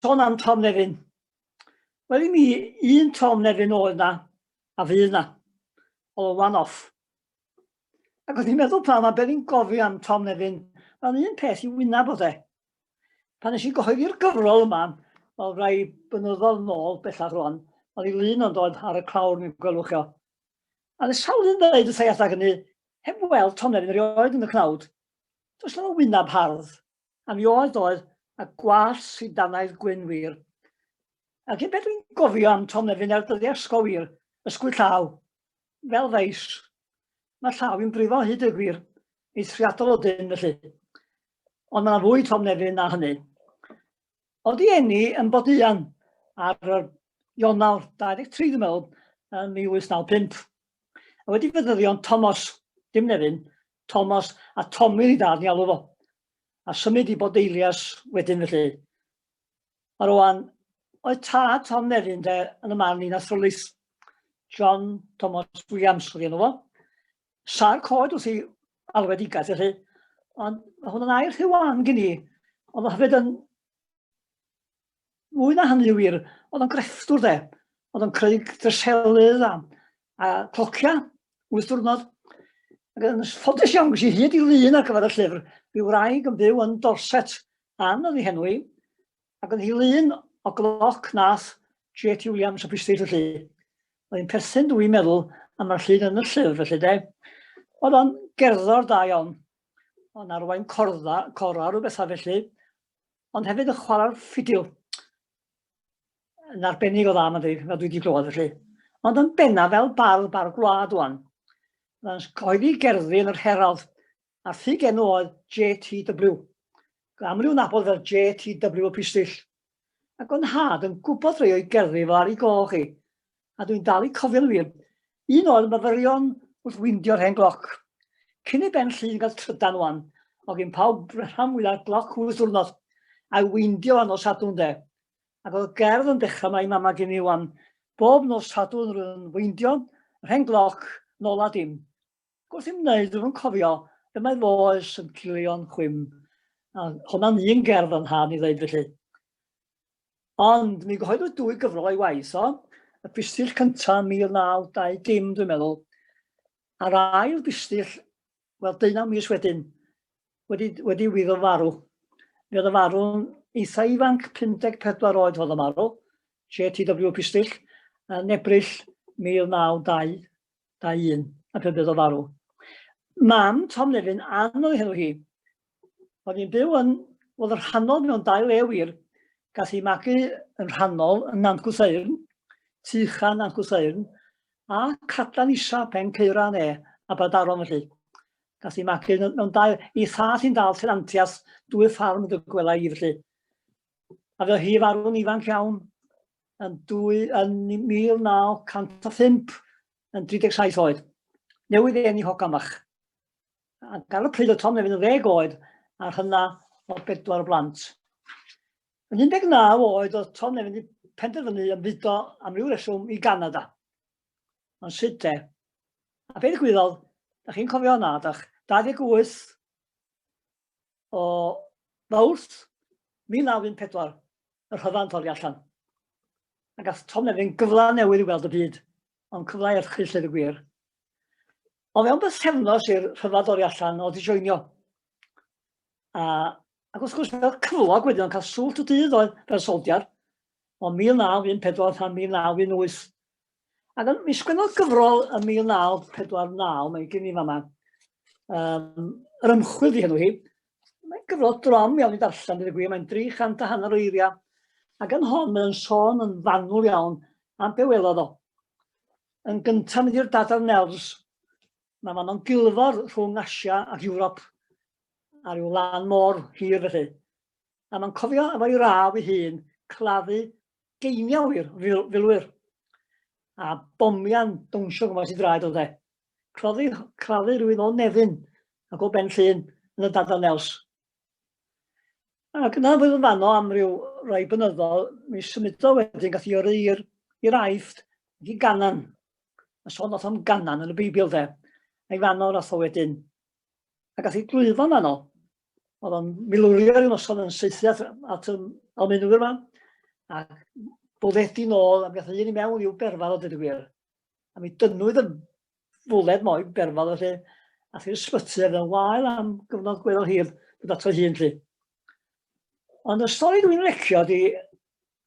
Son am Tom Nefyn. Wel i mi, un Tom Nefyn oedd na, a fydd na. Oedd o'n one-off. Ac oedd i'n meddwl pan mae be'n gofio am Tom Nefyn, mae'n un peth i wynaf bod e. Pan nes i gyhoeddi'r gyfrol yma, oedd rai bynyddodd nôl bellach rwan, oedd i lun ond oedd ar y clawr mi'n gwelwch o. A oedd sawl yn dweud wrth ei adag hynny, heb weld toner yn rioed yn y cnawd. Does na fo wynab hardd, a mi oedd doedd, a gwallt sydd danaidd gwyn wir. A gyn beth dwi'n gofio am toner fi'n er dyddiau ysgol wir, ysgwyd llaw, fel feis. Mae llaw i'n brifo hyd y gwir, eithriadol o dyn felly. Ond mae'n fwy Tom Nefyn na hynny. Oeddi enni yn Boduan ar yr Ionawr 23 dwi'n meddwl yn 1895. A wedi fyddyddion Tomos, dim Nefyn, Tomos a Tommy i dad ni alw fo. A symud i Bodeilias wedyn felly. A rwan, oedd tad Tom Nefyn de, yn y man un athrylith, John Thomas Williams oedd enw fo, sa'r cod wrth i alwedigaeth felly, ond mae hwn yn air rhyw wan gen i, ond mae hefyd yn mwy na hynny wir, oedd o'n grefftwr de, oedd o'n creu dreselydd a, a clocia, wyth diwrnod. Ac yn ffodus iawn, gysi hyd i lun ar gyfer y llyfr, byw wraig yn byw yn Dorset, Ann oedd ei henw i, Ac yn ddilyn o gloc nath J.T. Williams o Bristy felly. Oedd hi'n perthyn dwi'n meddwl am mae'r llun yn y llyfr felly de. Oedd o'n gerddor da iawn. O'n arwain cordda, cora rhyw bethau felly. Ond hefyd yn chwarae'r ffidil. Yn arbennig o dda mae'n dweud, fel dwi wedi glywed felly. Ond yn benna fel bardd bar gwlad o'n. Mae'n cyhoeddi gerddi yn yr Herald a thug enw oedd JTW, gan aml i'w nabod fel JTW y Pistyll, ac o'n nhad yn gwybod rhai o'i gerddi fel ar ei gol chi, a dwi'n dal i cofio'n wir, un oedd myfyrion wrth windio'r hen gloc. Cyn i Ben Llŷn gael trydan wan, o gyn pawb rhan fwyaf gloc wyth diwrnod, a'i weindio ar nos Sadwrn de. Ac oedd y gerdd yn dechrau mae mama gen i wan, bob nos Sadwrn rwy'n weindio yr hen gloc nôl a dim. Wrth i'm wneud, dwi'n cofio, y mae fo oes yn cilio'n chwim, a hwnna'n un gerdd o'n hân i ddeud felly. Ond mi gyhoeddwyd dwy gyfrol o'i waith o, y bustill cyntaf 1920 dwi'n meddwl, a'r ail bustill, wel, deunaw mis wedyn, wedi, wedi wyddo farw. Mi oedd y farw'n eitha ifanc, 54 oed oedd y marw, JTW Pistill, yn Ebrill 1920. da un, a phe bydd o farw. Mam Tom Levin anodd hefo hi. Oedd hi'n byw yn, oedd yr rhannol mewn dau le wir. Gath hi magu yn rhannol yn Nant Gwrtheyrn, tu chan Nant Gwrtheyrn, a Cadlan Isa, Pen Ceuran e, a Badaron felly. Gath hi magu mewn dau, i thall hi'n dal tenantiaeth dwy ffarm dy gwela i felly. A fe hi farw'n ifanc iawn, yn, dwy, yn 1905 yn 37 oed. Newydd ei enni hogamach. A gan y pryd o Tom Nefyn yn ddeg oed a hynna o bedwar o blant. Yn 19 oed oedd Tom Nefyn wedi penderfynu ymfudo am ryw reswm i Ganada. Ond sut te? A beth gwyddodd, da chi'n cofio hwnna, dach? 28 o Fawrth 1914, y rhyfel yn torri allan. Ac gath Tom Nevin gyfle newydd i weld y byd, ond cyfle erchyll lle y gwir. O fewn bythefnos i'r rhyfel dorri allan, oedd i joinio. A, ac wrth gwrs, fel cyflog wedyn, o'n cael swllt y dydd oedd fel soldier, o 1914 tan 1918, Ac yn, mi sgwennodd gyfrol yn 1949, mae gen i fama, um, yr ymchwil di hynny hi. Mae'n gyfrol drom iawn i darllen, dydy gwir, mae'n 300 a hanner o eiriau. Ac yn hon, mae'n sôn yn fanwl iawn am be welodd o. Yn gyntaf, mynd i'r dadar nerfs, mae fan o'n gilfor rhwng Asia ac Ewrop ar ryw lan môr hir felly. A mae'n cofio efo'i raf ei hun claddu geiniau i'r filwyr, a bomian dawnsio gwmpas i draed o dde. Cloddi, claddu rhywun o Nefyn ac o Ben Llun yn y dadau nels. Ac yna fydd yn fanno am ryw rai bynyddol, mi symudo wedyn gath i yrru i'r i'r aifft ac i ganan. A sôn nath am ganan yn y Beibl de. A'i fanno nath o wedyn a gath ei drwyddo yn fanno. Oedd o'n milwrio rhyw noson yn seithi at, at um, almenwyr yma, a boddedi nôl, a gath ei un i mewn i'w berfal o dyd y gwir. A mi dynwyd y fwled mo'i berfal felly, a thi'r ysbyty ar yn wael am gyfnod gweddol hir bod ato hun lle. Ond y stori dwi'n recio di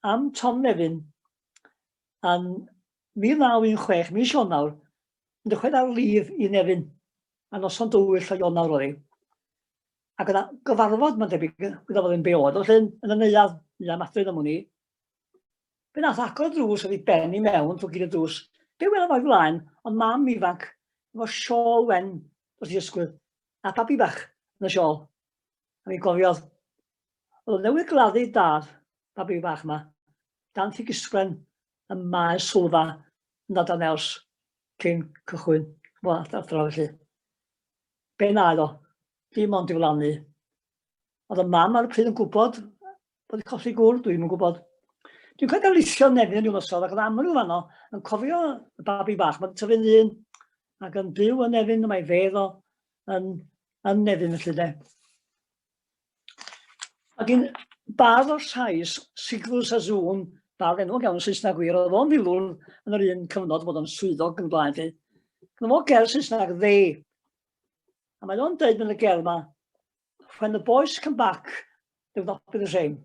am Tom Nefyn a'n Mi ddaw un chwech mis Ionawr, yn dychwelyd ar lif i Nefyn, a noson dywyll o Ionawr oedd hi. Ac yna gyfarfod, mae'n debyg, gyda fod yn be oedd, ond llun yn y neuad, ni am adryn am hwn i. Fe nath agor y drws oedd i ben i mewn drwy gyd y drws. Be welaf o'i flaen, ond mam ifanc, efo siôl wen dros ei ysgwydd, a babi bach yn y siôl. A mi gofiodd, oedd newydd gladdu dad, babi bach yma, dan ffig ysglen, y maes sylfa yn dod ar naws cyn cychwyn waith athro felly. Be wnaed o? Dim ond i wlanu. Oedd y mam ar y pryd yn gwybod bod wedi colli gŵr? Dwi'n yn gwybod. Dwi'n cael darlithio nefyn rhyw noson ac oedd aml i'w fanno yn cofio y babi bach. Mae'n tyfu'n ddyn ac yn byw yn nefyn, mae fedd o yn, yn nefyn felly de. Ac yn bardd o'r Sais, Siglws a Zoom, bardd enwog iawn yn Saesneg wir, oedd o'n filwr yn yr un cyfnod bod o'n swyddog yn blaen chi. Gynno fo gerdd Saesneg dde. A mae o'n dweud yn y gerdd yma, When the boys come back, they will not be the same.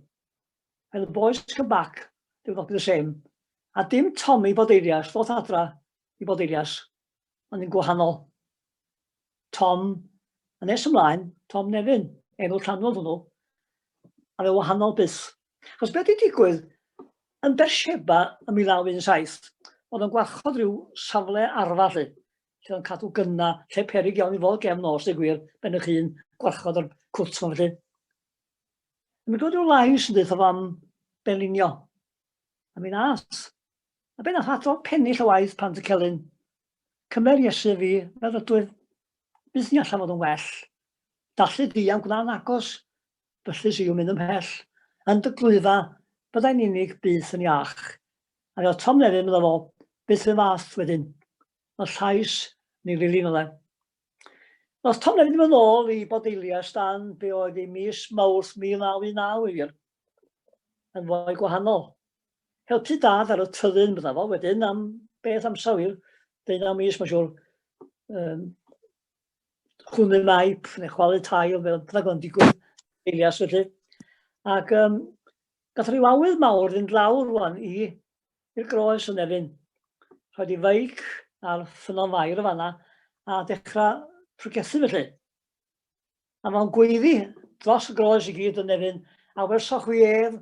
When the boys come back, they will not be the same. A dim Tommy bod eirias, ddoth adra i bod eirias. ond yn gwahanol. Tom, a nes ymlaen, Tom Nefyn, enw canol hwnnw, a fe wahanol byth. Chos beth wedi digwydd, yn Bersheba ym 1917, oedd yn gwarchod rhyw safle arfa lle oedd cadw gynna, lle perig iawn i fod gefn nos, dweud gwir, ben eich hun, gwarchod o'r cwt ma'n felly. Yn mynd gwrdd rhyw lais yn dweud am benlinio. A mi'n as, A be nath ato? Pennill o waith, pant y celyn. Cymer Iesu fi, fel ydwyf, byth ni allan fod yn well. Dallu diam gwna'n agos, byllus i'w mynd ymhell. Yn dy glwyfa, byddai'n unig, byth yn iach. A fel Tom Nefyn, medda fo, byth yn fath wedyn. Fel llais ni lili, medda e. Roedd Tom Nefyn yn mynd ôl i Bodelia stan be oedd ei mis Mawrth 1919 yn fwy gwahanol. helpu dad ar y tyddyn, bydda fo, wedyn am beth amser wir, deunaw mis, mae'n siŵr, um, chwnu maip neu chwalu tail, fel byddag o'n digwydd eilias felly. Ac um, gath rhyw awydd mawr fynd lawr rwan i i'r groes yn efin. Rhaid i feic ar ffynon fair y fanna a dechrau prygethu felly. A mae'n gweiddi dros y groes i gyd yn nefyn, a welsoch chwi ef,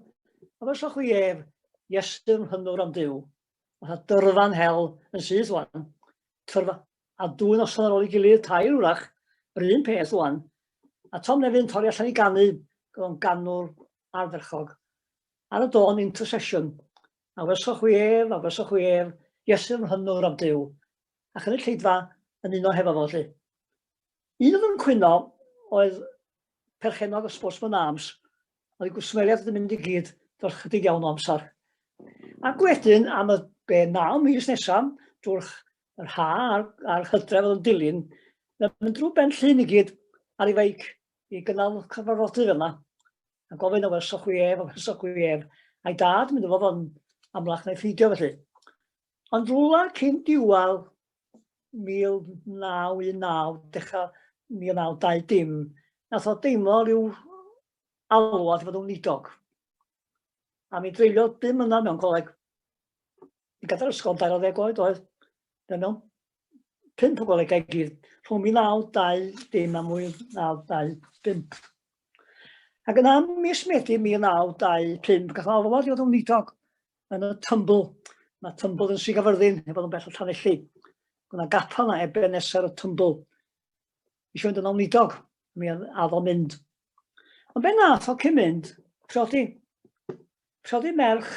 a welsoch chwi ef, Iesu'n hynwr am Dyw. Fatha dyrfan hel yn syth wan. Tyrfa, a dwy noson ar ôl i gilydd, tair wrach, yr un peth wan. A Tom Nefyn torri allan i ganu, gyda'n ganwr ardderchog. Ar y don intercession, a welsoch chwi ef, a welsoch chwi ef, Iesu'n hynwr am Dyw. Ac yn y lleidfa, yn uno hefo fo, lle. Un oedd yn cwyno oedd perchennog y Sportsman Arms, oedd y gwsmeriaid yn mynd i gyd dros chydig iawn o amser. Ac wedyn, am y be naw mis nesaf, drwy'r yr ha a'r, ar hydref oedd yn dilyn, mae'n mynd drwy ben llun i gyd ar ei feic i gynnal cyfarfodydd yma. A gofyn o werso chwi ef, o werso chwi ef. A'i dad, mynd o fod yn amlach neu ffeidio felly. Ond rwla cyn diwadd 1919, dechrau 1920, nath o deimlo rhyw alw at fod yn wlidog. A mi dreulio bum yna mewn coleg. I gadael ysgol yn 20 oed oedd. Fe mewn pump o golegau gyd, rhwng 1920 a 1925. Ac yna, mis Medi 1925, gath o alwad i fod yn wlidog. yn y tymbl. Mae tymbl yn Sir Gafyrddin, heb fod yn bell o Llanelli. Gwna gapel na eben nesaf y tymbl. Eisiau fynd yn ôl nidog, mi addo mynd. Ond be nath o cyn mynd, priodi. Priodi merch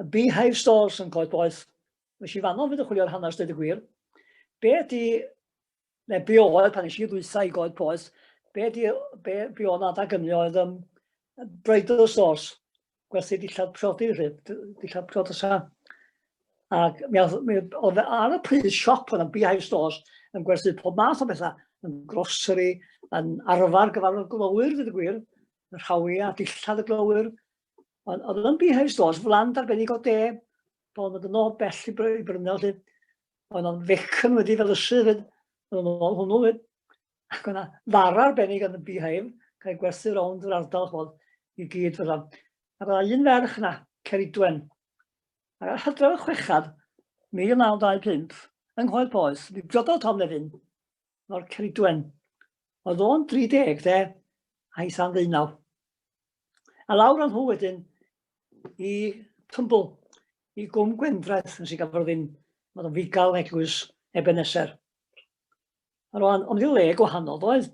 y Beehive Stores yn Coed Boeth. Nes i fanno fynd yn chwilio'r hanes dweud y gwir. Be ydy neu be oedd pan eisiau ddwysa i goed poes, be, di, be, be oedd adag ymni oedd um, bridal sauce, gwerthu dillad priodi, dillad priodi sa. Ac mi oedd ar y pryd siop yn y beehive stores yn gwerthu pob math o bethau, yn grocery, yn arfer gyfarfod glowyr, dweud y gwir, yn rhawi a dillad y glowyr. Ond oedd yn beehive stores, flan darbennig o de, bod yn dod yn ôl bell i brynu, lle, Oedd o'n fecyn wedi fel ysu fyd. Oedd o'n ôl hwnnw fyd. Ac o'na ddar arbennig yn y beehive, cael gwerthu rownd yr ardal chwod i gyd fydda. A bydda un ferch na, Ceridwen. Ac ar hydref y chwechad, 1925, yng Nghoed Poes, mi briododd Tom Lefin. o'r Ceridwen. Oedd o'n 30 dde, a'i san ddeunaw. A lawr o'n nhw wedyn i Tymbl, i Gwm Gwendraeth, nes i gafodd ddim, oedd o'n figal eglwys Ebenezer. A rwan, ond i le gwahanol, oedd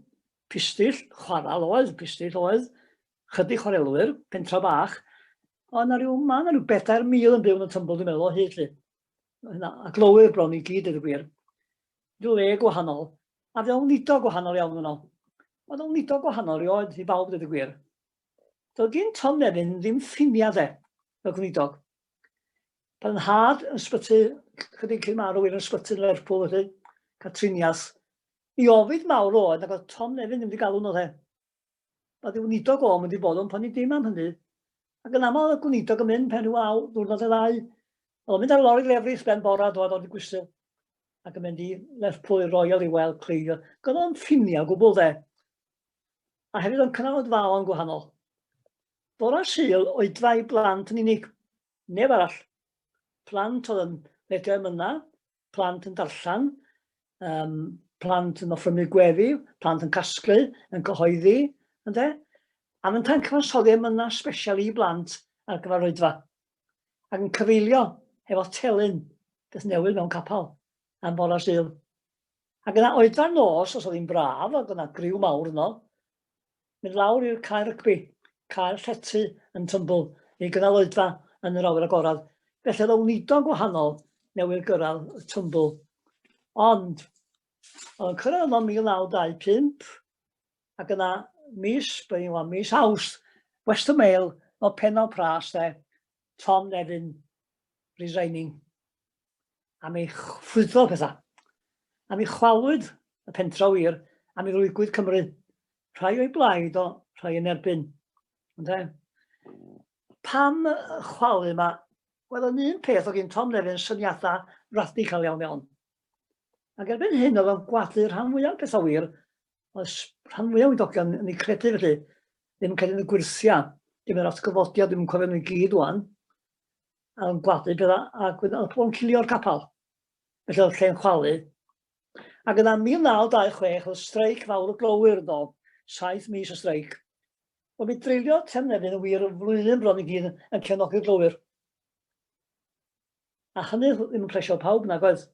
pistyll, chwarael oedd, pistyll oedd, chydig chwarelwyr, pentra bach, ond na rhyw, mae yna rhyw bedair mil yn byw yn y Tymbl, dwi'n meddwl, o hyd lle. A glowyr bron i gyd, ydy gwir. le gwahanol, a fewnfudo gwahanol iawn yno. Mae fewnfudo gwahanol rioed i bawb dweud y gwir. Doedd gyn Tom Nevin ddim ffiniau dde, fel gwneudog. Pan yn had yn sbyty, chydig cyn marw i'r ysbyty yn Lerpwl felly, cael triniaeth. I ofid mawr oedd nag oedd Tom Nevin ddim wedi galw yno dde. Mae dy weinidog o'm wedi bod o'n poeni dim am hynny. Ac yn aml oedd y gweinidog yn mynd pen rhyw awr, dwrnod neu ddau. Oedd o'n mynd ar lori lefrith ben bora dod o'r gwisil ac yn mynd i Lerpwl Royal i weld Cleio. Gyda o'n ffiniau gwbl dde. A hefyd o'n cynnal yn gwahanol. Bora syl o'i drai blant yn unig. Neb arall. Plant oedd yn medru ymyna, plant yn darllen, um, plant yn offrymu gweddi, plant yn casglu, yn cyhoeddi, ynddo? A mae'n ta'n cyfansoddi am yna special i blant ar gyfer oedfa. Ac yn cyfeilio efo telyn beth newydd mewn capel am bora sydd. Ac yna oedfa nos, os oedd hi'n braf, ac yna griw mawr yno, Mynd lawr i'r cae rygbi, cae'r llety yn tymbl i gynnal oedfa yn yr awyr agored, felly oedd y wnido'n gwahanol newydd gyrraedd y tymbl. Ond, oedd yn cyrraedd yno 1925, ac yna mis, byddwn i'n mis Awst, Western Mail, o penol pras de, Tom Nevin, resigning. am ei chwyddo pethau, am ei chwalwyd y pentra wir, am ei lwygwyd Cymru, rhai o'i blaid o, rhai yn erbyn. Ynde? Pam chwalu mae, wel yn un peth o gyn Tom Levin syniadau radical iawn iawn. Ac erbyn hyn oedd o'n gwadu rhan fwyaf pethau wir, oedd rhan fwyaf wydogion yn ei credu felly, ddim yn cael ei gwirthia, dim yr atgyfodiad, ddim yn cofio nhw'n gyd o'n. yn gwadu gyda a gwyd yn pobl yn cilio'r capel. Felly oedd lle'n chwalu. Ac yna 1926 oedd streic fawr y glowyr yn dod, saith mis o streic. Wel, mi dreulio Trefnefyn yn wir yn flwyddyn bron i gyd yn cefnogi'r glowyr. A hynny ddim yn plesio pawb nag oedd.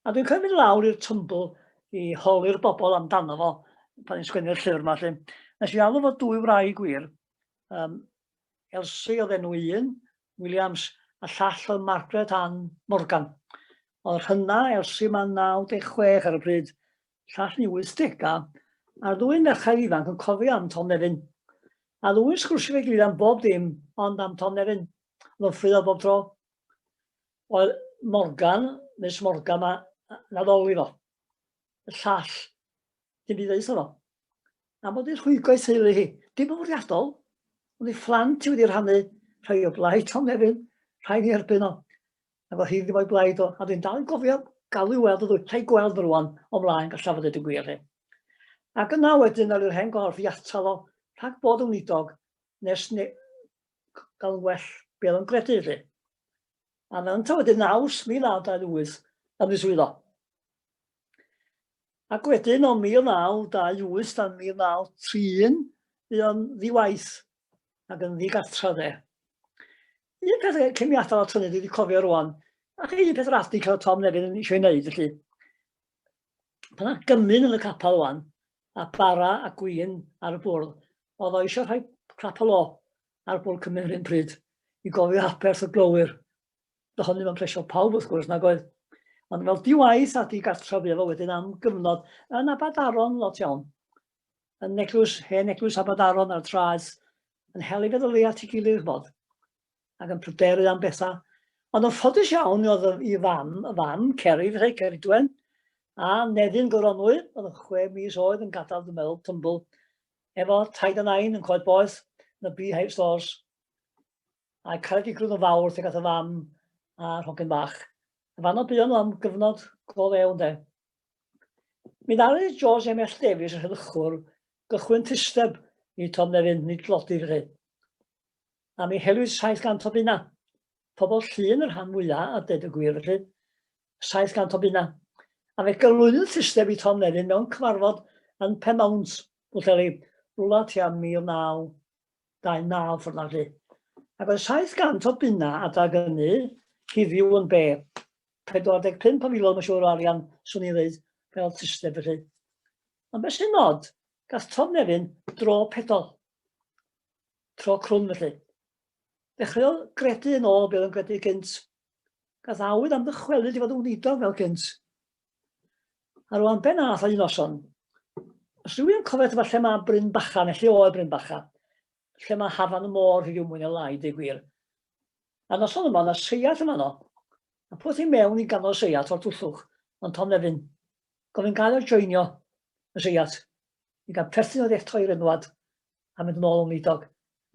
A dwi'n cael mynd lawr i'r tymbl i holi'r bobl amdano fo pan i'n sgwennu'r llyfr yma. Nes i alw fod dwy wraig gwir, um, Elsie oedd enw un, Williams, a llall oedd Margaret Ann Morgan. Oedd rhynna, Elsie mae'n 96 ar y bryd, llall ni 80 a a'r ddwy merched ifanc yn cofio am Tom Nefyn. A ddwy'n sgwrsio fe gilydd am bob dim ond am Tom Nefyn. Oedd o'n ffryddo bob tro. Oedd Morgan, Miss Morgan, mae naddoli fo. y llall, dim byd ddeud o'n A bod i'n rhwygo i teulu hi, dim yn fwriadol, ond i fflant i wedi rhannu rhai o blaid Tom Nefyn, rhai ni erbyn o. A bod hi ddim o'i blaid o, a dwi'n dal yn gofio galw weld o ddwy, rhai gweld yn rwan, o mlaen gallaf fod yn gwir hi. Ac yna wedyn ar yr hen gorff i atal o, rhag bod yn wlidog, nes ne... gael yn well be oedd o'n gredu, lle. A mewn ta wedyn naws 1928, ymwyswyddo. Ac wedyn o 1928 tan 1931, bu o'n ddiwaith ac yn ddigartra dde. Un peth cyn mi atal at hynny, dwi wedi cofio rwan, ac un peth radi cael Tom Nevin yn eisiau ei wneud, felly, pan yna gymyn yn y capel rwan, a bara a gwyn ar y bwrdd, oedd o eisiau rhoi clap o lo ar bwrdd Cymru yn un pryd, i gofio aberth y glowyr Doedd hynny ddim yn plesio pawb wrth gwrs nag oedd. Ond fel diwaith a digartref efo wedyn am gyfnod yn Abadaron lot iawn. Yn eglwys, hen eglwys Abadaron ar traeth, yn hel ei feddylu at ei gilydd ch'mod, ac yn pryderu am bethau. Ond yn ffodus iawn oedd i fam, y fam, Ceri, fethau Ceridwen, a Nefyn Goronwy, oedd yn chwe mis oed yn gadael dwi'n meddwl, tymbl, efo taid a nain yn coed boeth, yn y beehive stores, A caredigrwydd o fawr tuag at y fam a'r hogyn bach. Yn fanno buon nhw am gyfnod go lew de. Mi ddaru George M.F. Davies, y rheddychwr, gychwyn tysteb i Tom Nefyn nid dlodi fy rhaid. A mi helwyd 700 o bunna. Pobl llun y rhan mwyaf a ded y gwir felly. 700 o bunna. A fe gyflwynydd tysteb i Tom Nefyn mewn cyfarfod yn Penmawnt, Bwlleli, rwla tua 1900. 29 ffordd na lle. Ac oedd 700 o bunna adag ynnu hiddiw yn be? 45 o filoedd mae'n siŵr o arian, swn i'n dweud, fel system felly. Ond beth sy'n nod, gath Tom Nefyn dro pedol, tro crwn felly. Dechreuodd gredu yn ôl beth oedd yn gredu gynt. Gath awydd am ddychwelyd i fod yn wneud fel gynt. A rwan ben arall a un noson. Os rhywun yn cofio efallai mae Bryn Bacha, neu lle oedd Bryn Bacha, lle mae hafan y môr rhyw mwy neu lai, deu gwir. A noson yma, yna seiat yma no. A pwth i mewn i ganol seiat o'r twllwch, ond Tom Nefyn. Gofyn gael o'r joinio y seiat. I gael perthyn oedd eto i'r enwad, a mynd yn ôl o Wneidog.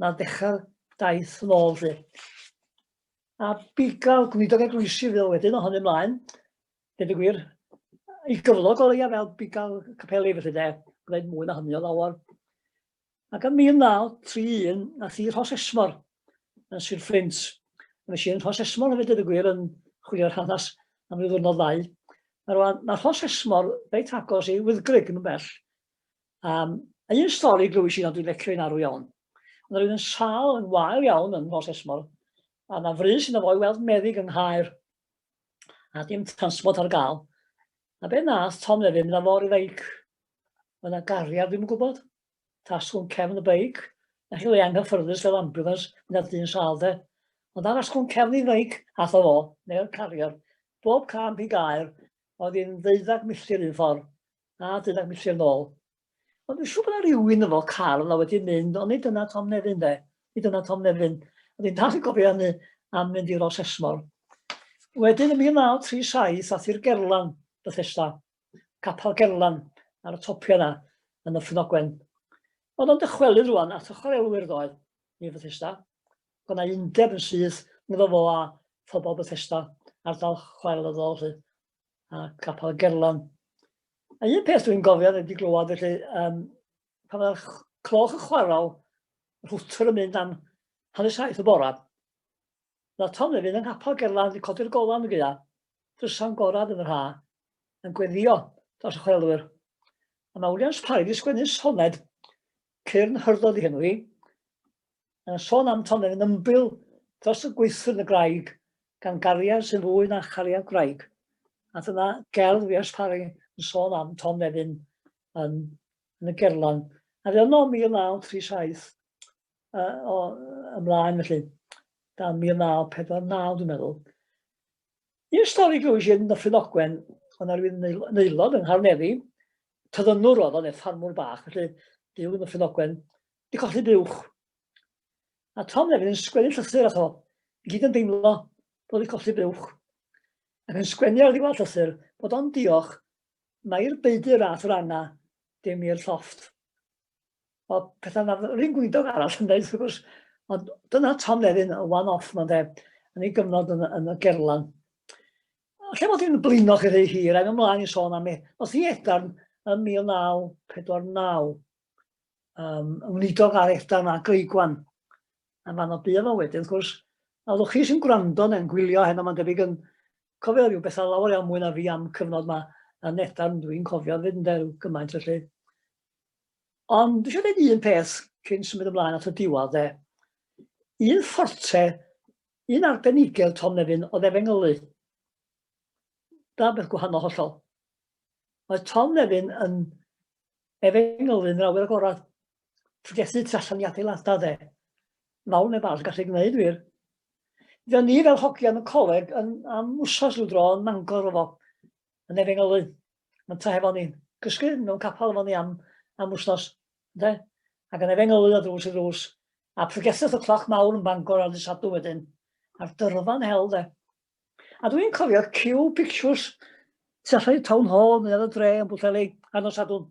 Na ddechrau'r daith yn ôl, lle. A biga'r Gwneidog eglwysi fydd wedyn o hynny mlaen, Dweud y gwir, i gyflog o leia fel bigal capeli felly de, gwneud mwy na hynny o lawer. Ac yn 1931, na thi Rhos Esmor yn Sir Fflint. Mae eisiau yn Rhos Esmor hefyd dweud y gwir yn chwilio'r hanes am ryw ddwrnod ddau. Mae rwan, mae Rhos Esmor reit agos i Wyddgrug yn bell. Um, a un stori glwys i na dwi'n lecio i'n arw iawn. Ond rwy'n yn sal yn wael iawn yn Rhos Esmor, a na fri sy'n ofo'i weld meddyg yng Nghaer. a dim transport ar gael. A be nath Tom nefyd, mynd fawr i feic. Mae yna gariad, ddim yn gwybod. Tasgwn cefn y beic. A chi le anghyffyrddus fel ambulance, mynd ar dyn sal de. Ond ar asgwn cefn i feic, ath o fo, neu'r cariad. Bob camp i gair, oedd hi'n ddeuddag milltir un ffordd, a ddeuddag milltir nôl. Ond dwi'n siŵr bod yna rhywun efo car yna wedi mynd, ond nid yna Tom Nefyn de, nid yna Tom Nefyn. A dwi'n dal yn gofio hynny am mynd i Rosesmor. Wedyn yn 1937 ath i'r Gerlan, Bethesda, capel Gerlan ar y topia yna yn y Ffynogwen. Oedd o'n dychwelyd rwan at y chwarelwyr ddoedd i Bethesda. Oedd yna undeb yn syth ngddo fo a phobl Bethesda, ardal chwarelyddol. a Capel y Gerlon. A un peth dwi'n gofio, wedi glywed, felly, um, pan mae'r cloch yn chwarae, yr hwtr yn mynd am hanner saith y bora. Na Tom Levin yng Nghapel Gerlan wedi codi'r golan yn gyda, drysa'n gorad yn yr ha, yn gweddio dros y chwelwyr. A mae Williams Parry wedi sgwennu soned, cyrn hyrdod i henw hi, Mae'n sôn am Tonyn yn ymbil dros y gweithwyr yn y graig, gan gariad sy'n fwy na chariad graig. A dyna gerdd Wiers Parry yn sôn am Tom Nefyn yn, yn y gerlan. A fe yno 1937 uh, o ymlaen felly, dan 1949 dwi'n meddwl. Un stori glwys i'n Nyffryn Ogwen, ond ar rwy'n neilod yng Ngharneddi, tyddynwr oedd o'n ffarmwr bach, felly byw yn Nyffryn Ogwen, di colli buwch. A Tom hefyd yn sgwennu llythyr ato. I gyd yn deimlo bod wedi colli buwch. Ac yn sgwennu ar ddiwedd llythyr bod o'n diolch mae'r beidir rath yr anna dim i'r llofft. O pethau na rhywun gwydog arall yn dweud, wrth gwrs, ond dyna Tom Levin, y one-off ma'n dweud, yn ei gyfnod yn, yn y gerlan. Lle bod hi'n blino chi rhy hir, a'n ymlaen i sôn am ei, oedd hi edarn yn 1949. um, wneudog ar Edan a Greigwan. A fan o bydd o wedyn, wrth gwrs, a ddwch chi sy'n gwrando neu'n gwylio heno, mae'n debyg yn cofio rhyw bethau lawer iawn mwy na fi am cyfnod yma yn Edan, dwi'n cofio fyd yn derw gymaint felly. Ond dwi eisiau dweud un peth cyn symud ymlaen at y diwad dde. Un fforte, un arbenigedd Tom Nefyn oedd efengylu. Da beth gwahanol hollol. Mae Tom Nefyn yn efengyl yn awyr agorad, ffriesu tu allan i adeiladau dde. Mawr neu bach gallu gwneud wir. Fe ni fel hogian y coleg yn am wsos rhyw dro yn mangor efo, yn efengylu. Mae'n ta hefo ni. Cysgu mewn capel efo ni am, am wsnos, de? Ac yn efengylu o drws i drws. A pregetheth y cloch mawr yn bangor ar ddysadw wedyn. A'r dyrfan hel, de? A dwi'n cofio Q Pictures tu allan i Town Hall neu ar y dre yn Bwllheli ar nos Sadwrn.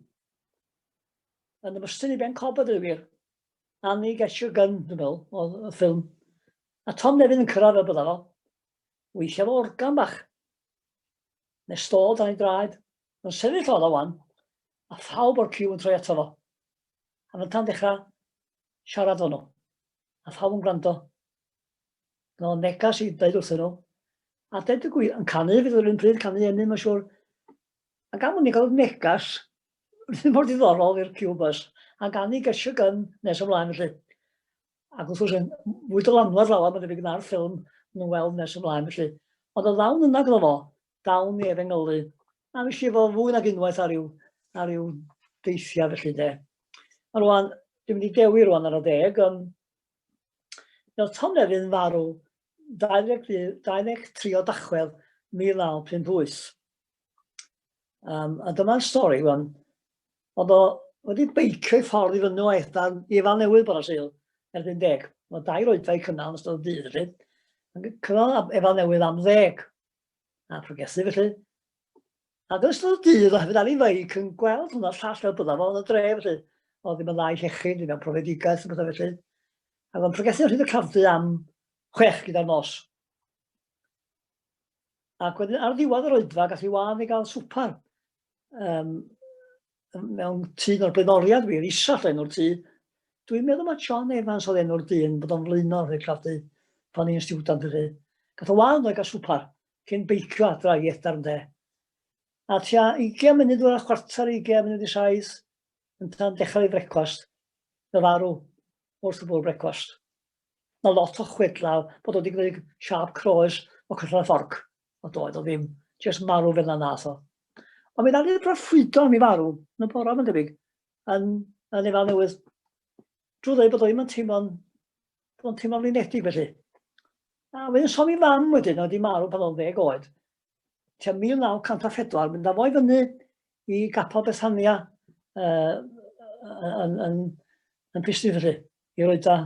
Yn ymestyn i Ben Cob a dweud gwir. Annie Get Your Gun, dwi'n meddwl, oedd y ffilm. A Tom Nefyn yn cyrraedd fel byddaf o. Weithiau fo organ bach. Neu stôl dan ei draed. Yn sefyll oedd o wan. A phawb o'r ciw yn troi ato fo. A fynta'n dechrau siarad o'n nhw. A phawb yn gwrando. Fel negas i ddeud wrthyn nhw. A dweud y gwir, yn canu fydd yr un pryd canu enni, mae'n siŵr. A gan mwyn i gael negas, ddim mor ddiddorol i'r Cubas, a gan i gesio gan nes ymlaen felly. Ac wrth gwrs, fwy dylanwad lawer, mae'n debyg na'r ffilm nhw'n weld nes ymlaen felly. Ond o ddawn yna gyda fo, dawn i efengylu. A fi si fo fwy nag unwaith ar yw, ar yw deithiau felly de. A rwan, dwi'n mynd i dewi rwan ar y deg, um, Nawr Tom Nefyn yn farw 23 o Dachwedd 1958. Um, a dyma'r stori, wan. Oedd o wedi beicio i ffordd i fyny o Aethdan i fan newydd bod o syl, erbyn deg. Mae dau roedfau cynnal yn ystod dydd, felly. Cynnal efal newydd am ddeg. A progesu, felly. Ac yn ystod y dydd, oherwydd ar ei feic yn gweld hwnna llall fel byddaf o'n y dre, felly, oedd ddim yn dda i llechu, ddim yn profedigaeth, yn bydda felly. Ac o'n pregethu rhyd y crafdu am chwech gyda'r nos. Ac wedyn ar ddiwedd yr oedfa, gath i wan i gael swpar um, mewn tŷ o'r blaenoriad wir, isall enw'r tŷ. Dwi'n meddwl mae John Evans oedd enw'r dyn bod o'n flaenor i'r crafdu pan i'n stiwdant felly. Gath o wan o'i gael swpar cyn beicio adra i Edgar ynde? A tua 20 munud o'r chwarter 20 munud i saith yn tan dechrau ei frecwast, fe farw wrth y bwrw brecwast. Mae lot o chwedlau bod wedi gwneud siap croes o cyllau'r fforc, o doedd o ddim, jyst marw fel na nath o. Ond mi ddawn ni'r proffwydo am i farw yn y bora mae'n debyg, yn, yn efal newydd. Drwy ddweud bod o ddim yn teimlo'n Dwi'n teimlo'n flinedig felly. A wedyn somi mam wedyn, oedd i marw pan oedd ddeg oed. Tua 1904, mynd â fo i fyny i gapel Bethania uh, yn, yn, yn Pistyn felly, i roi da.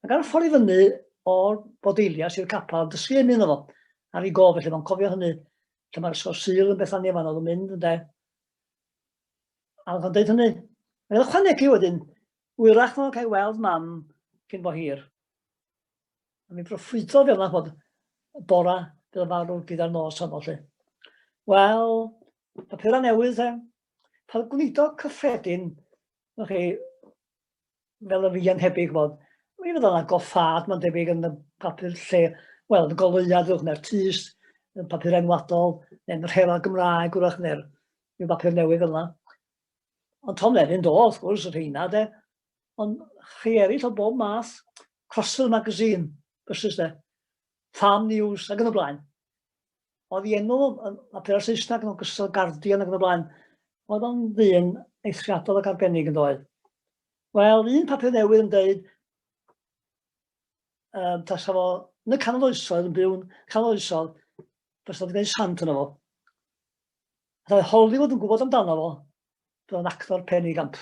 Ac ar y ffordd i fyny o'r bodeilias i'r capel, dysgu ymyn iddo fo, ar ei gof felly, mae'n cofio hynny, lle mae'r ysgol syl yn Bethania fan oedd yn mynd, ynde. A oedd o'n dweud hynny. Mae'n ychwanegu wedyn, Hwyrach fo cael weld mam cyn bo hir. A mi broffwydo fel yna bod y bora bydd y farw gyda'r nos honno lle. Wel, papura newydd e, pan gwnido cyffredin, o'ch chi, fel y fi yn hebyg bod, mi fydd yna goffad, mae'n debyg yn y papur lle, wel, y goleuad ddwch neu'r tys, y papur enwadol, neu'r rhera Gymraeg wrach neu'r papur newydd fel yna. Ond Tom Levin do, wrth gwrs, y rheina de. Ond chi eraill o bob math, Crossfield Magazine, bysus de, Farm News ac yn y blaen. Oedd i enw yn papur Saesneg yn ogystal Guardian ac yn y blaen. Oedd o'n ddyn eithriadol ac arbennig yn doedd. Wel, un papur newydd yn dweud um, tasa fo yn y canol oesoedd yn byw'n canol oesoedd, bys oedd gwneud sant yna fo. Roedd Hollywood yn gwybod amdano fo, roedd o'n actor pen ei gamp.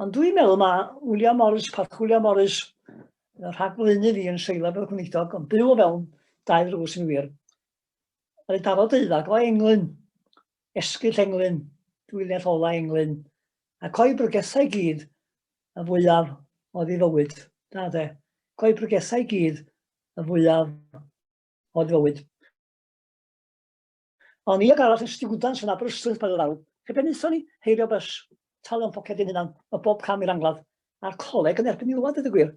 Ond dwi'n meddwl mae William Morris, Parch William Morris, rhag flynu fi yn seilaf o'r gwneidog, ond byw o fewn dau ddrws yn wir. Roedd daro deuddag o englyn, esgyll englyn, dwyllell ola englyn, a coi brygethau gyd y fwyaf oedd ei fywyd. Da de, coi brygethau gyd y fwyaf oedd ei fywyd. O'n i ag arall yn stiwdant yn Aberystwyth pan ddaw, lle be wnaethon ni? Heirio bys, talio'n poced i'n hunan, o bob cam i'r angladd, a'r coleg yn erbyn i lwad dweud y gwir.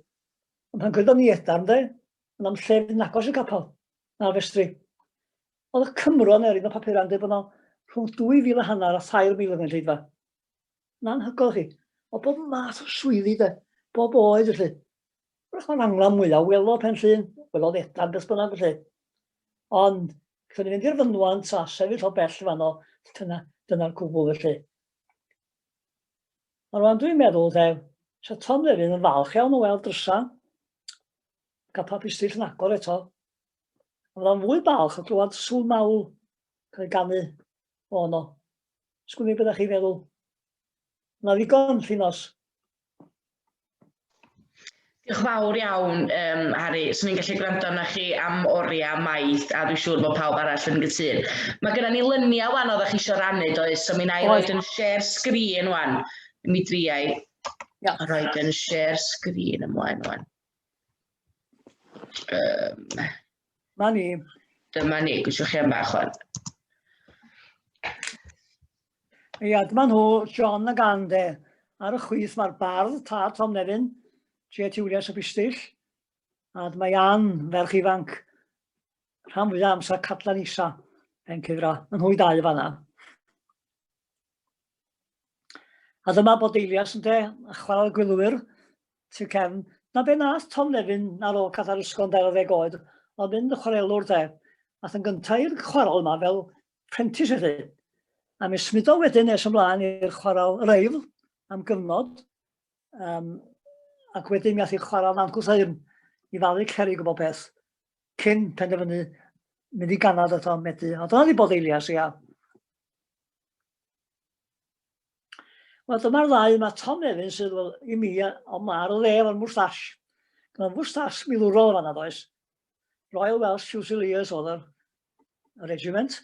Ond pan gwyddom ni edarn de, yn am lle fydd yn agos i'r capel, na'r festri. Oedd y Cymro yn erin o papurau yn dweud bod yno rhwng 2,000 a hanner a 3,000 yn y lleidfa. yn anhygoel chi, o bob math o swyddi de, bob oed felly. Wrach mae'n angla mwyaf, welo pen llun, welo fedan beth bynnag felly. Ond, gallwn ni fynd i'r fynwant a sefyll o bell fanno, dyna'r dyna cwbl felly. A rwan dwi'n meddwl, de, sa Tom Lefyn yn falch iawn o weld drysa, cael papistill yn agor eto. A fydda'n fwy balch o glywed sŵn mawl cael ei ganu O, no. Sgwni beth chi feddwl. Na ddigon, Llinos. Diolch fawr iawn, um, Harry. Swn i'n gallu gwrando na chi am oriau maith, a dwi'n siŵr bod pawb arall yn gytun. Mae gennym ni lyniau wan oeddech chi eisiau rannu, does? So mi na i roi yn share sgrin wan. Mi driau ja. roi yn share sgrin ymlaen wan. Um, Ma ni. Dyma ni, gwiswch chi am bach o'n. Ia, dyma nhw, John a Gande. Ar y chwith mae'r bardd, tad Tom Nefyn, J. Tiwlias y Bistill, a dyma Ian, ferch ifanc, rhan fwyaf amser Cadlan Isa, Ben Cifra, yn hwy dau fanna. A dyma bod Eilias yn de, a chwarae gwylwyr, Tŷ Cefn. 'Na be nath Tom Levin ar ôl cath ar ysgol yn dair ar ddeg oed, oedd mynd yn chwarelwr de. Ath yn gynta' i'r chwarel yma fel prentis felly. A mi smudodd wedyn nes ymlaen i'r chwarel Yr Eifl am gyfnod, um, ac wedyn mi ath i'r chwarel Nant Gwrtheyrn i falu cerig o bob peth, cyn penderfynu mynd i ganad eto Medi. A dyna ni bod eilias, ia. Wel, dyma'r ddau, mae Tom Evans sydd wel, i mi, ond mae ar y dde efo'r mwstash. Mae'n mwstash milwrol o fanna, does. Royal Welsh Fusiliers oedd yr, y regiment.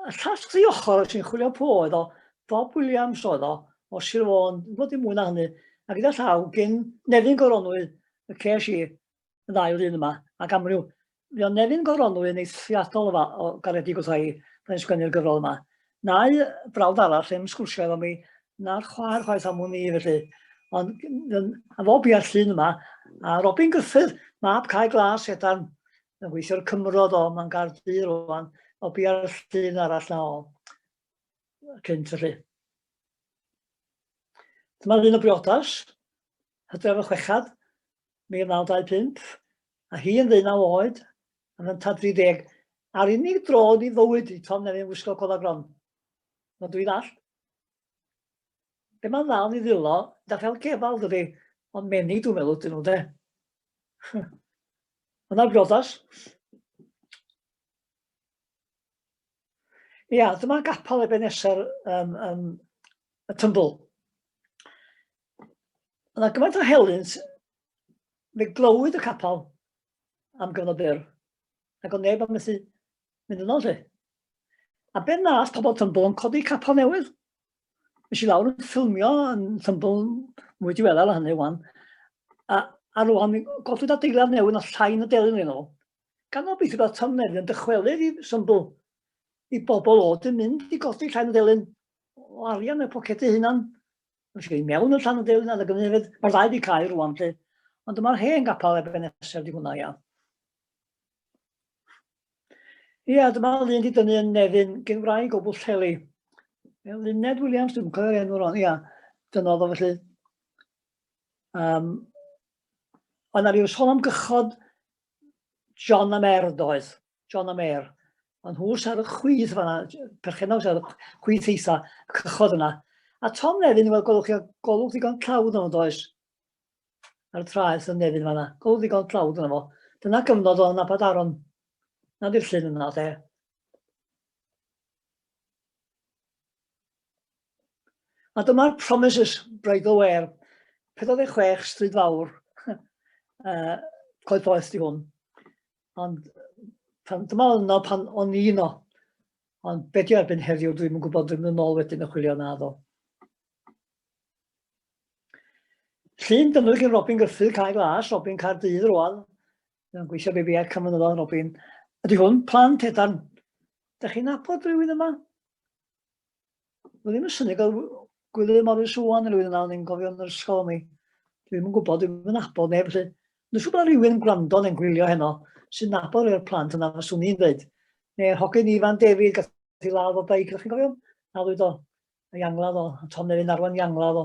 Y llall tri ochr sy'n chwilio po oedd o, Bob Williams oedd o, o Sir Fôn, yn bod i mwy na hynny, a gyda llaw gyn Nefyn Goronwy, y ces i, y ddau yr un yma, ac amryw. Mi o'n Nefyn Goronwy yn eithriadol o, o garedig wrtha i, pan i'n sgwennu'r gyfrol yma. Na'u brawd arall yn sgwrsio efo mi, na'r chwaer chwaith am hwn i, felly. Ond a fo bia'r llun yma, a Robin Griffith, mab cae glas edan, yn gweithio'r cymrod o, mae'n gardd du rwan, o bia'r llun arall na o cynt felly. Dyma ddyn o briodas, hydref y chwechad, 1925, a hi yn ddeunaw oed, yn yntad 30, a'r unig dro yn ei fywyd i Tom Nevin wisgo cofa gron. Mae dwi ddall. Be mae'n dda yn ei ddillo, da fel cefal dydy, ond menig dwi'n meddwl dyn nhw de. Yna brodas. Ia, dyma gapal ebeneser um, um, y tymbl. Yna gymaint o helynt, fe glywyd y capel am gyfnod byr, ac o'n neb am methu mynd yno lle. A be nath pobl Tymbl yn codi capel newydd. Nes i lawr yn ffilmio yn Tymbl mwy diweddar hynny wan. A, a rwan mi godwyd adeilad newydd na llain y delyn yn ôl. Gan obeithio bod Tom Nefyn yn dychwelyd i Tymbl i bobl o dim mynd i godi llain y delyn o arian y pocedi hunan. Felly, i mewn i'r Llanw Deulin a Lygynefydd, mae'r ddau wedi cael rwan lle, ond dyma'r hen gapal erbyn nesaf di hwnna, ia. Ia, dyma lun di dynnu yn nefyn gen wraig o Bwllheli. Luned Williams, dwi'n cofio'r enw rwan, ia. Dyna oedd o felly. Um, ond na ryw sôn am gychod John am erdd oedd. John a Mare. Ond nhw sy ar y chwith fanna, perchennog sy ar y chwith eitha cychod yna. A Tom Nefyn, wel, golwch chi, golwch ddigon tlawd yno, does? Ar y traeth yn Nefyn fanna, golwch ddigon tlawd yno fo. Dyna gyfnod o'n abad aron. Na di'r llun yna, te. A dyma'r Promises, Bridal Wear, 46 Stryd Fawr, uh, Coed Poeth di hwn. Ond pan, dyma yno pan o'n i yno. Ond be di erbyn heddiw, dwi'n yn gwybod, dwi'n yn ôl wedyn y chwilio na ddo. Llun dyfnwch i'n Robin Gyffydd, cael glas, Robin cael dydd rwan. Mae'n gweithio be fi ar Cymru Robin. Ydy hwn, plant edan. Da chi'n apod rhywun yma? Mae ddim yn syni gael gwylio Morris Owan yn rhywun yna, o'n i'n gofio yn yr ysgol mi. Dwi ddim yn gwybod, dwi'n mynd nabod neb, felly. Dwi'n siŵr bod rhywun yn gwrando neu'n gwylio heno sy'n nabod rhywun o'r plant yna, fes o'n i'n dweud. Neu'r hogyn Ifan David, gath i ladd o beic, ydych chi'n gofio? Nadwyd o, a iangladd o, a Tom Nefyn arwain iangladd o.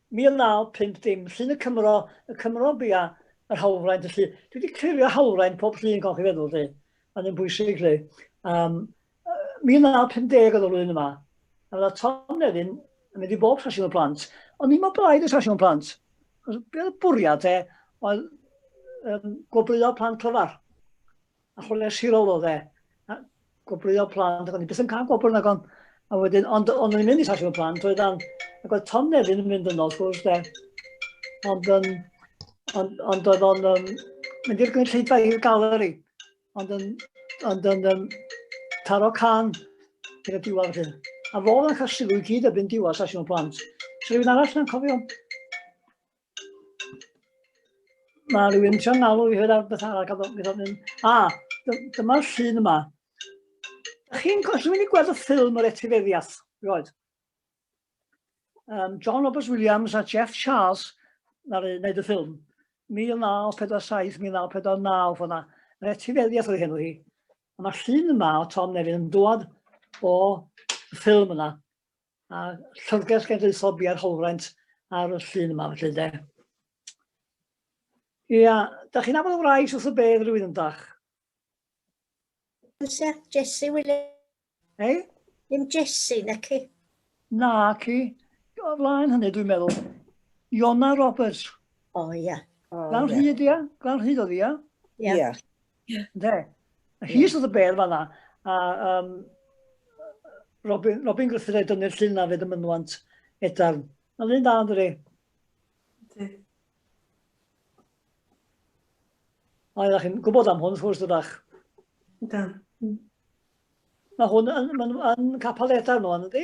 1950, llun y Cymro, y Cymro bia, yr hawlfraint, felly dwi wedi clirio hawlfraint pob llun golch i feddwl, lle, a ddim bwysig, lle. Um, 1950 oedd y flwyddyn yma, a fydda Tom Nefyn yn mynd i bob sesiwn y plant, ond ni mae blaid y sesiwn plant. Be oedd y bwriad te, oedd um, gwobrwyo plant clyfar. arholiad sirol oedd e. Gwobrwyo plant, ac o'n i beth yn cael gwobr nag o'n. A wedyn, ond o'n i'n mynd i sasio plant, oedd o'n... Ac oedd Tom Nefyn yn mynd yno, wrth gwrs, de. Ond, um, ond, ond oedd o'n um, mynd i'r gynulleidfa i'r galeri. Ond yn, ond yn um, taro can gyda diwar hyn. A fo yn cael sylw i gyd erbyn diwar sasio plant. Rwy'n arall na'n cofio. Mae rhywun yn sio'n alw i hyd ar beth arall, gadw, gadw, mynd. A, dyma'r llun yma. Ydych chi'n gallu mynd i gweld y ffilm yr etifeddiaeth? Roed. Um, John Roberts Williams a Jeff Charles na rhaid wneud y ffilm. 1947, 1949, fyna. Yr etifeddiaeth oedd henw hi. A mae'r llun yma o Tom Nevin yn dod o ffilm yna. a Llyfrgell Genedlaethol Biau'r Holwraint ar y llun yma felly de. Ia, da chi'n aml wraig wrth y bedd rhywun yn dach? Sir Jesse Williams. Ei? Ddim Jesse, na ci. Na ci. O flaen hynny dwi'n meddwl. Iona Roberts. O ia. Glan hyd ia? Glan hyd oedd ia? Ia. Ie. Ynde? A hi sydd y bedd fanna. A um, Robin, Robin Griffith ei dynnu'r llun na fyd y mynwant edarn. Mae'n un da, ynddi? A ydych chi'n gwybod am hwn, wrth gwrs, ydych? Da. Mae hwn yn, yn, yn capel edarn nhw, ynddi?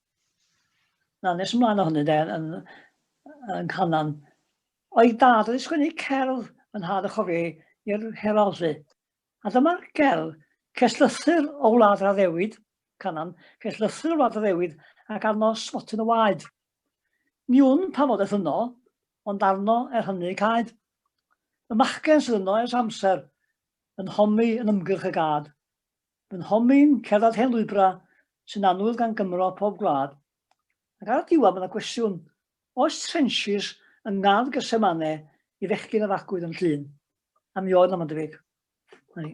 Na, nes ymlaen o hynny, de, yn, yn Canan. O'i dad oedd sgwennu cerdd yn had y chofio i'r Herald, lle. A dyma'r gerdd, ceslythyr o wlad raddewyd, Canan, ceslythyr o wlad raddewyd, ac arno slotyn o waed. Ni wn pa fod eth yno, ond arno er hynny caed. Y machgen sydd yno ers amser, yn homi yn ymgyrch y gad. Fy nhomyn, cerdded hen lwybrau sy'n annwyl gan Gymro o pob gwlad, ac ar y diwedd mae yna gwestiwn, oes trenches yng ngardd Getsemane i fechgyn a fagwyd yn Llŷn? A mi oedd 'na mae'n debyg. 'Na ni.